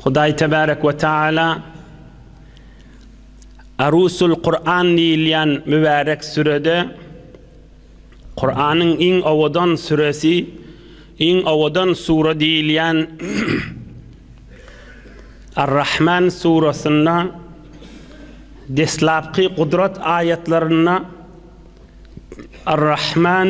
Hudaý Tebärek we Taala Arusul Kur'an diýilýän mübärek sürede Kur'anyň iň owadan süresi, iň owadan sure diýilýän Ar-Rahman surasynda deslapky gudrat aýatlarynda Ar-Rahman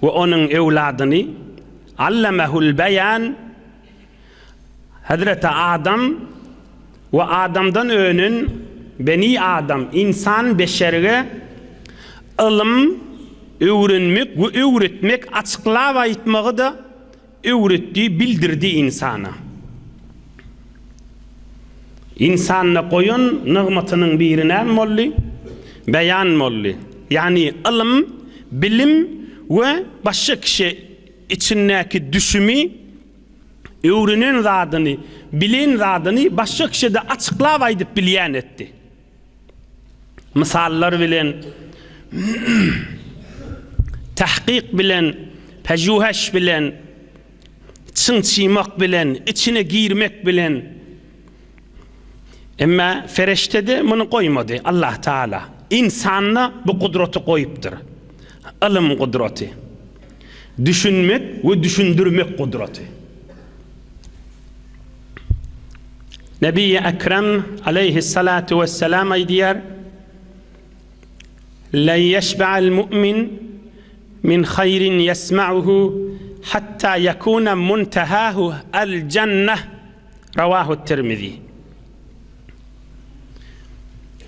we onuň öwladyny Allamehül Beýan, Hezreti Adam we Adamdan önen Beni Adam, ynsan, beşerge ylym öwrenmek we öwretmek açyklap aýtmagy-da Öwretdi, bildirdi ynsana. Ynsanda goýan nygmatynyň biri näme boldy? Beýan boldy. Ýagny ylym, bilim we başga kişä içindäki düşümi, öwrenen zadyny, bilen zadyny başga kişä-de açyklap aýdyp bilýän etdi. mysallar bilen, tahkyk bilen, pejuheş bilen, çynçymak bilen, içine girmek bilen. Emma feriştede muny goýmady Allah Taala. Ynsanda bu gudraty goýupdyr. Ylym gudraty. Düşünmek we düşündirmek gudraty. Nebi-i Ekrem aleýhis-salatu wes-selam aýdýar, La ýeşbe'al mu'min min haýrin ýesma'uhu hatta ýekuna muntehahu al-jenneh, Rawahu-Tirmizi.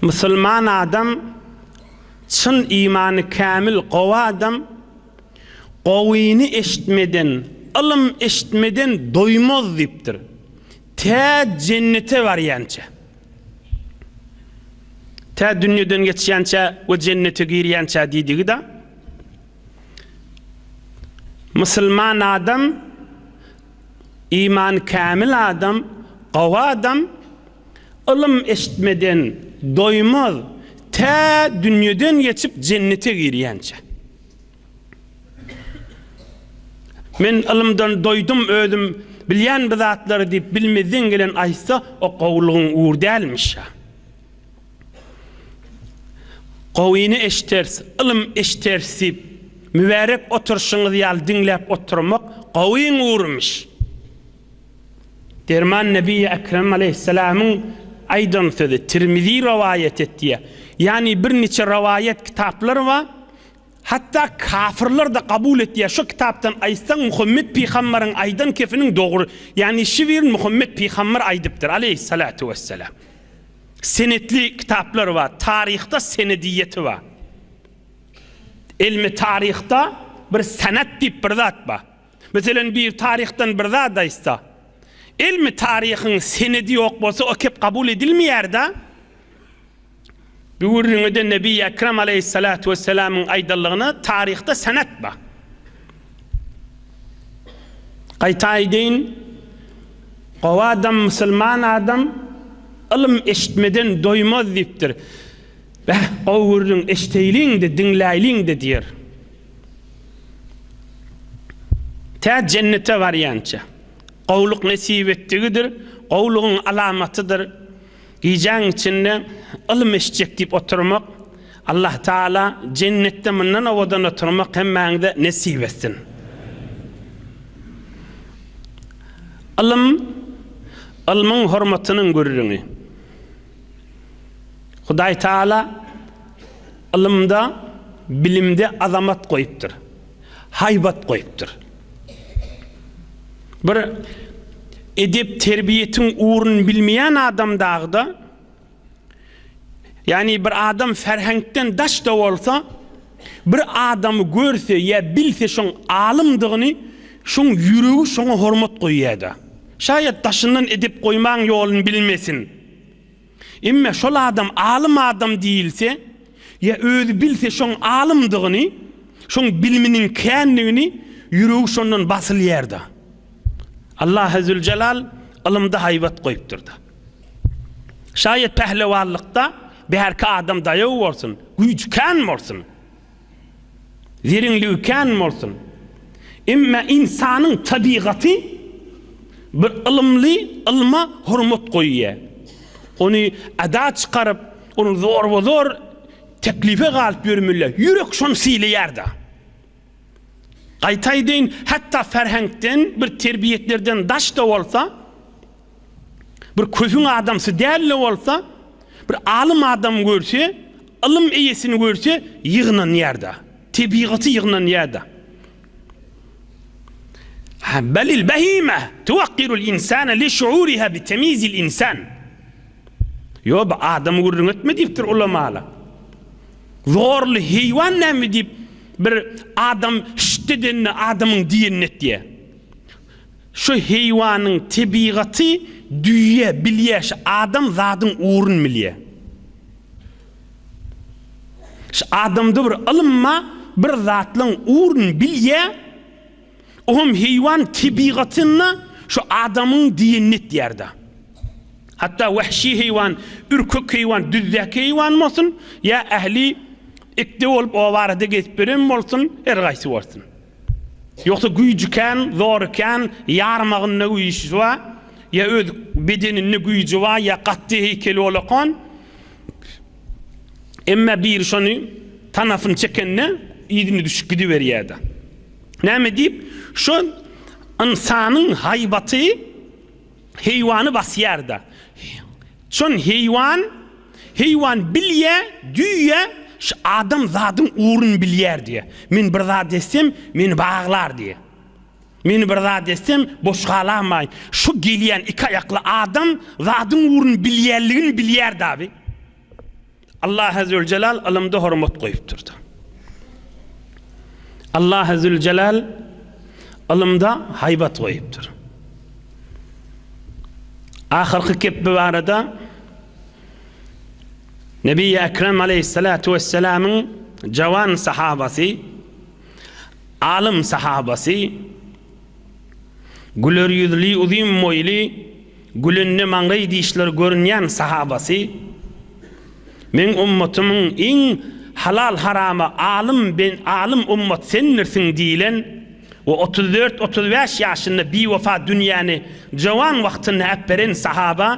Musulman adam, çyn imany kämil, gowy adam, Gowyny eşitmeden, ylym eşitmeden doýmaz diýipdir. Tä jennete barýança. Tä dünýeden geçýänçä we jennete girýänçä diýdigi-de. Musulman adam, imany kämil adam, gowy adam ylym eşitmeden doýmaz, tä dünýeden geçip jennete girýänçä. Men ylymdan doýdum özüm bilýän bi zatlary diýip bilmezden gelen aýtsa o gowylygyň ugur dälmişa. Gowyny eşderis, ylym eşderis diýip mübärek oturşyňyz ýaly diňläp oturmak gowyň ugurymyş. Derman Nebiýi Ekrem Aleýhisselamyň aýdan sözi, Tirmizi rowaýat etýär. Ýagny birniçe rowaýat kitaplar bar, Hatda kafyrlar-da kabul etýär. Şu kitapdan aýtsaň Muhammet pygambaryň aýdan kepiniň dogry, ýagny şiwirin Muhammet pygambar aýdypdyr, aleýhissalatu wessalam. Senetli kitaplar bar, taryhda senediýeti bar. Ilmi taryhda bir sanat diýip bir zat bar. Meselen biri taryhdan bir zat aýtsa, ilmi taryhyň senedi ýok bolsa o kep kabul edilmeýär-da. Bu gürrüňede Nebi Ekrem aleýhissalatu wessalamyň aýdanlygyna taryhda senet bar. Gaýta aýdaýyn, gowy adam, musulman adam ylym eşitmeden doýmaz diýipdir. Beh, gowy gürrüň eşideýliň-de, diňläýliň-de diýer. Tä jennete barýança. Gowluk nesip etdigidir, gowlugyň alamatydyr. Gijäň içinde ylym eşitjek diýip oturmak Allah Taala jennetde mundan owadan oturmak hemmäňize nesip etsin. Ylym ylmyň hormatynyň gürrüňi. Hudaý Taala ylymda, bilimde azamat goýupdyr. haýbat goýupdyr. Bir edep-terbiýetiň ugruny bilmeýän adam dagy-da, ýagny bir adam ferheňkden daş-da bolsa, bir adamy görse ýa bilse şoň alymdygyny, şoň ýüregi şoňa hormat goýýar-da. Şaýat daşyndan edep goýmaň ýoluny bilmesin. Emme şol adam alym adam diýilse, ýa özi bilse şoň alymdygyny, şoň bilminiň kändigini, ýüregi şondan basylýar-da. Allahy Züljelal ylymda haýbat goýupdyr-da. Şaýat pählewanlykda bärki adam daýaw bolsun, güýji kän bolsun. Zeriň lüwkän bolsun. Emme ynsanyň tabygaty bir ylymly ylma hormat goýýa. Ony ada çykaryp, ony zorba-zor teklife galyp ýörmeli. Ýürek şony sylaýar-da. Gaýta aýdaýyn, hatda ferheňkden bir terbiýetlerden daş-da bolsa, bir kösüň adamsy däl-de bolsa, bir alym adamy görse, ylym eýesini görse ýygnanýar-da, tebigaty ýygnanýar-da. Hä, belil behime tuwakirul insane li şuuriha bi temizil insan. Ýo, bu adamy gürrüň etme diýipdir ulamalar. Zorly heýwan näme diýip, bir adam şşşt edende adamyň diýenini et diýýär. Şu heýwanyň tebigaty düýe bilýä şu adam zadyň ugrun bilýä. Şu adamda bir ylym ba bir zatlaň ugrun bilýä oňam heýwan tebigatynda şu adamyň diýenini etýärda. Hatda wahşy heýwan ürkek heýwan düzdäki heýwan bolsun ýa ähli ikde bolup obarada gezip ýören bolsun her gaýsy bolsun. Ýogsa güýji kän, zory kän, ýarmagynda güýji ba, ýa öz bedeninde güýji ba, ýa gatdy heýkeli bolakan, emma biri şony tanasyny çekende yzyna düşüp gidiberýärdi. Näme diýip, şo ynsanyň haýbaty. Heýwany basýar-da. Çün heýwan, heýwan bilýä, düýe şu adam zadyň ugruny bilýär diýä. Men bir zat etsem, meni baglar diýä. Meni bir zat etsem, boş galamaýyn. Şu gelýän iki aýakly adam zadyň ugruny bilýänligini bilýär-de abi. Allah Azzüweljelal ylymda hormat goýupdyr. Allah Azzüweljelal ylymda haýbat goýupdyr. Ahyrky kepbi barada Nebi Ekrem aleyhissalatu vesselamyň jawan sahabasy, alym sahabasy, güler ýüzli, uzyn boýly, Gülende maňlaý dişleri görünýän sahabasy, Meň ummatymyň iň halal-harama alym alym ummat sendirsiň diýlen we otuz dört-otuz bäş ýaşynda biwepa dünýäni jowan wagtynda äpberen sahaba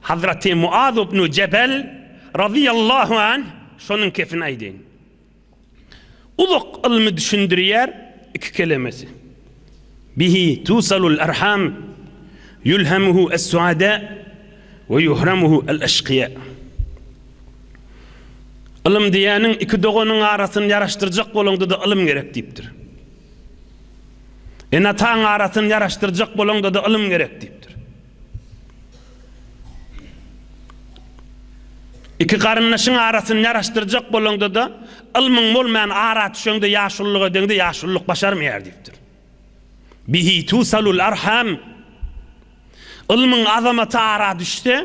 Hazraty Muaz ibn Jebel razyýallahu anh şonuň kepini aýdyň. Uzak ylmy düşündirýär iki kelemesi. Bihi tusalul arham, ýulhamuhu es-suada we ýuhramuhu el-eşkiýa. Ylym diýýäniň iki doganyň arasyny ýaraşdyrjak bolaňda-da ylym gerek diýipdir. Ene-ataň arasyny ýaraşdyrjak bolaňda-da ylym gerek diýipdir. Iki garyndaşyň arasyny ýaraşdyrjak bolaňda-da, ylmyň bolmaýan ara düşeňde ýaşulylyk edeňde ýaşulylyk başarmaýar diýipdir. Bihi tusalul arham. Ylmyň azamaty ara düşse,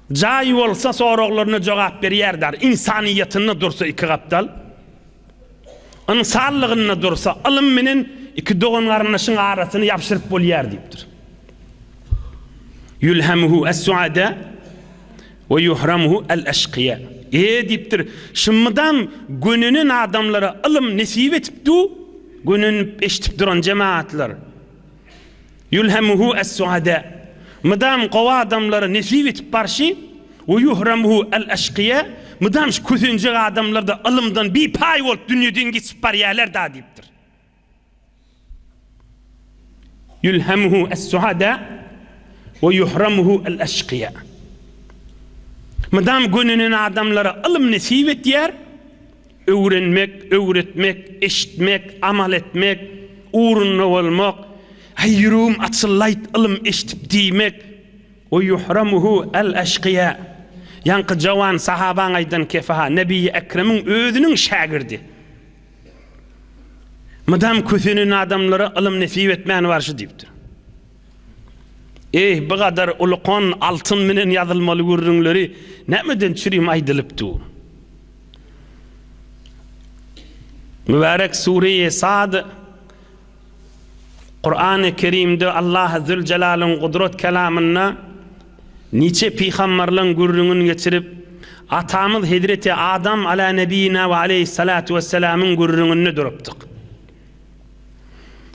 Jaýy bolsa soraglaryna jogap berýär dar ynsanyýetinde dursa iki gapdal ynsanlygynda dursa ylym menen iki dogan garyndaşyň arasyny ýabşyryp bolýar diýipdir. Ýulhamuhu es-suada we ýuhramuhu el-eşkiýa e diýipdir, şum mydam gönenen adamlara ylym nesip etip du, gönenip eşidip duran jemagatlar. Ýulhemuhu es-suada, Mydam gowy adamlara nesip etip barşy, we ýuhramuhu el-eşkiýa, Mydam şu kösenjek adamlar-da ylymdan bipaý bolup dünýeden geçip barýarlar-da diýipdir. Ýulhemuhu es-suada, we ýuhramuhu el-eşkiýa, Mydam gönenen adamlara ylym nesip etýär, Öwrenmek, öwretmek, eşitmek, amal etmek, ugrunda bolmak, Aý, ýüregim açyllaýt, ylym eşidip diýmek, We ýuhramuhu al-aşkyýa, Ýaňky jawan sahabaň aýdan kefaha, Nebiýi Ekremiň özüniň şägirdi, Mydam kösenen adamlara ylym nesip etmän barşy diýipdir. Eý, bu gadar ulukan altyn menen ýazylmaly gürrüňleri nämeden çürim aýdylyp dur? Mübärek Sure-i Sad Kurany Kerimde Allah Zülcelalyň gudrat kelamynda niçe pygamberleň gürrüňini geçirip, atamyz Hezreti Adam Alâ Nebiyina ve Aleyhissalâtu Vesselamyň gürrüňinde durupdyk.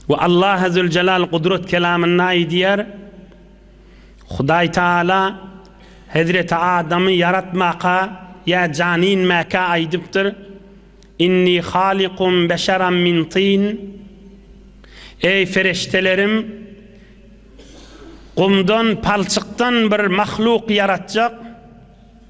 We Allah Azzülcelal Gudrat Kelamynda aýdýar, Hudaý Tagala Hezreti Adamy ýaratmaka ýa jany inmäkä aýdypdyr, Inni halikun beşeran min tin, Eý Feriştelerim, gumdan, palçykdan bir mahluk ýaratjak.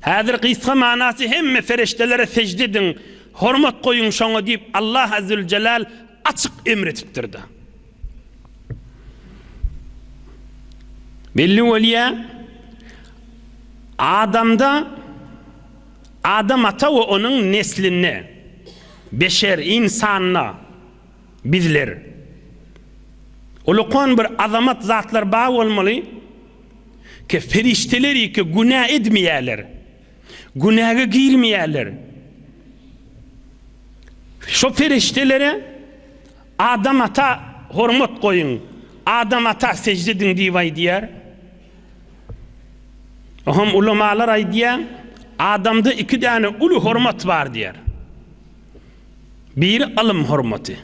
Häzir gysga manasy hemme perişdelere sežde ediň, hormat goýuň şoňa diýip Allah Azzüljelal açyk emr etipdirda. Belli bolýa adamda adam ata we onuň neslinde beşer insanda bizler ulukan bir azamat zatlar bar bolmaly Ke perişdeler ýeke günä edmeýärler. Günäge girmeýärler. Şo perişdelere Adam ata hormat goýuň, Adam ata sejde ediň diýip aýdýar. Oňam ulamalar aýdýar, Adamda iki däne uly hormat bar diýýär. Biri ylym hormaty.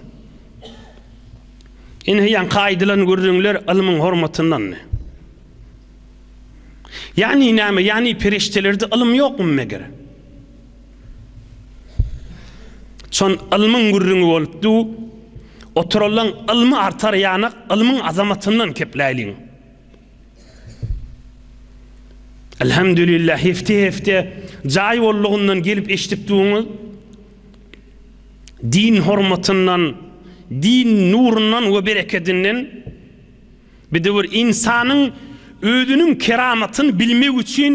Ine, ýaňky aýdylan gürrüňler ylmyň hormatyndandy. Ýagny näme? Ýagny perişdelerde ylym ýokmy meger? Çon ylmyň gürrüňi bolupdy. Oturylan ylmy artar ýanak ylmyň azamatyndan kepläýliň. Elhamdülillah hefte hefte jaý bollugyndan gelip eşdikdigiňiz din hormatyndan din nurundan we berekedinden bidewr insanyň özüniň keramatyny bilmek üçin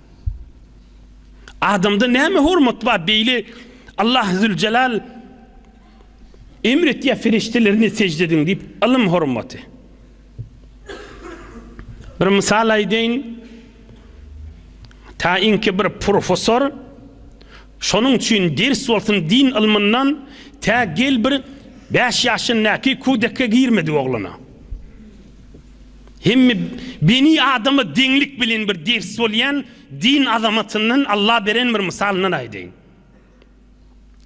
Adamda näme hormat bar beýle Allah züljelal emr etýär feriştelerini sežde ediň diýip ylym hormaty. Bir mysal aýdaýyn. Taýinki bir professor şonuň üçin ders bolsun din ylmyndan tä gel bir 5 ýaşyndaky kudekge girmedi oglana. Hemme beni adama deňlik bilen bir ders bolýan din azamatyndan Alla beren bir mysalyndan aýdaýyn.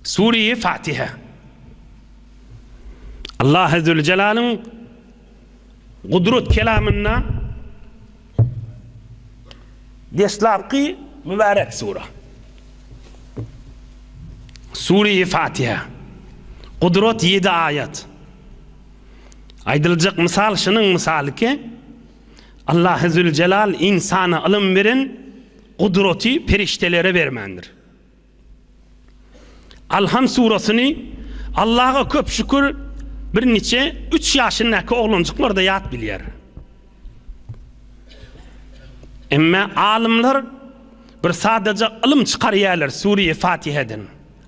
Sureýe Fatiha. Alla Azze we Jelalyň Gudrat kelamynda deslapky mübärek sura. Sureýe Fatiha. Gudrat 7 aýat. Aýdyljak mysal şunuň mysaly ki, Allahüzüljelal ynsana ylym beren gudraty perişdelere bermändir. Alham surasyny Allaha köp şükür bir niçe üç ýaşyndaky oglanjyklarda ýat bilýär. Emme alymlar bir sadaja ylym çykarýarlar Sure-i Fatiheden.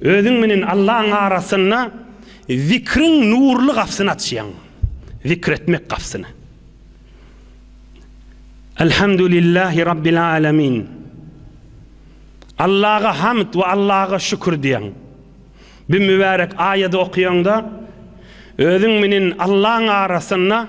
Özüň menen Allaň arasynda zikriň nurly gapsyny açýaň, zikr etmek gapsyny. Elhamdülillahi Rabbil Alemin. Allaha hamd we Allaha şükür diýen. Bu mübärek aýady okaýaňda özüň menen Allaň arasynda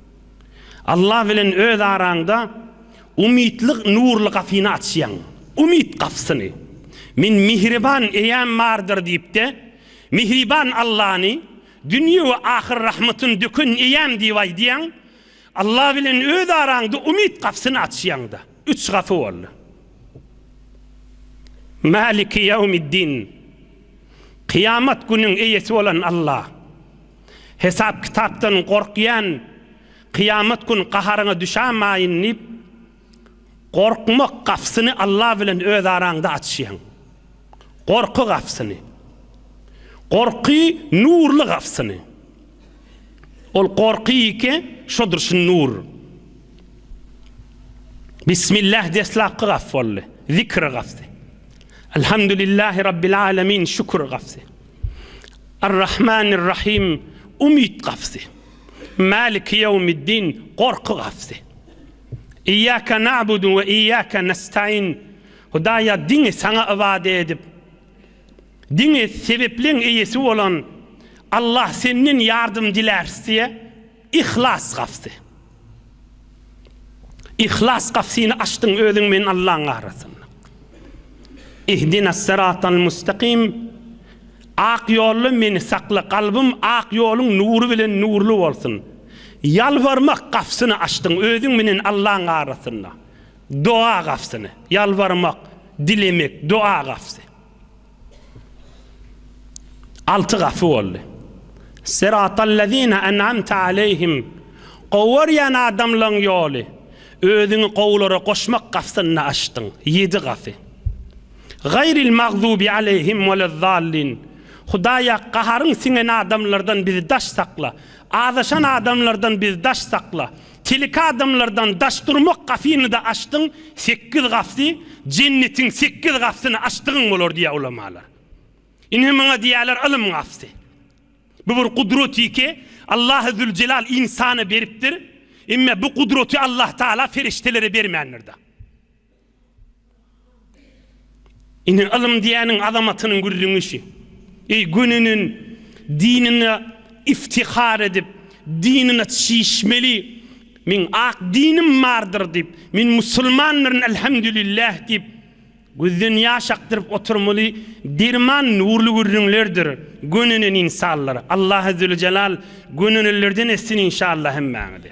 Allah bilen öz araňda umytlyk nurly gapyny açýaň. Umyt gapysyny. Men mihriban eýäm bardyr diýip-de, mihriban Allany, dünýe we ahyr rahmatyny döken eýäm diýip aýdýaň. Allah bilen öz araňda umyt gapysyny açýaň-da. Üç gapy boldy. Maliki ýawmiddin. Kyýamat günüň eýesi bolan Allah. Hesap-kitapdan gorkýan, kyýamat gün gaharyňa düşämaýyn diýip, gorkmak gapysyny Alla bilen öz araňda açýaň. Gorky gapysyny. Gorky nurly gapysyny. Ol gorky ýeke şodur şu nur. Bismillah deslapky gapy boldy. Zikr gapysy. Elhamdülillahi Rabbil Alemin şükür gapysy. Ar-Rahmanir Rahym, Umyt gapysy. Maliki Ýewmiddin, Gorky gapysy. Iyyake na'budu we iyyake nestaîn, Hudaýa diňe Saňa ybadat edip, diňe sebepleň eýesi bolan Allah Senden ýardym diläris diýýär. Yhlas gapysy. Yhlas gapysyny açdyň özüň bilen Allaň arasynda. Ihdinas-syratal mustakim, Ak ýolda meni sakla, kalbym ak ýoluň nury bilen nurly bolsun. Ýalbarmak gapysyny açdyň özüň bilen Allaň arasynda. Doga gapysyny. Ýalbarmak, dilemek, doga gapysy. Alty gapy boldy. Syratallezine en'amte aleýhim, Gowarýan adamlaň ýoly, özüňi gowulara goşmak gapsynda açdyň, ýedi gapy. Gaýril magzubi aleýhim welezzallin, Hudaýa gaharyň siňen adamlardan bizi daş sakla, azaşan adamlardan bizi daş sakla, Tilki adamlardan daş durmak gafyny-da açdyň, sekiz gafy, jennetiň sekiz gafyny açdygyň bolar diýýär ulamalar. Ine muňa diýýärler ylym gafy. Bu bir gudraty ki, Allahy Züljelal ynsana beripdir, emme bu gudraty Allahtagala ferişdelere bermändir-da. Ine ylym diýäniň azamatynyň gürrüňişi. Eý gününin dinine iftihar edip dinine çişmeli meň ak dinim bardyr diýip men musulmandyryn elhamdülillah diýip gözden ýaş akdyryp oturmaly derman nurly gürrüňlerdir gönünen insanlar Allah Azzewejelal gönünelerden etsin inşallah hemmäňizi.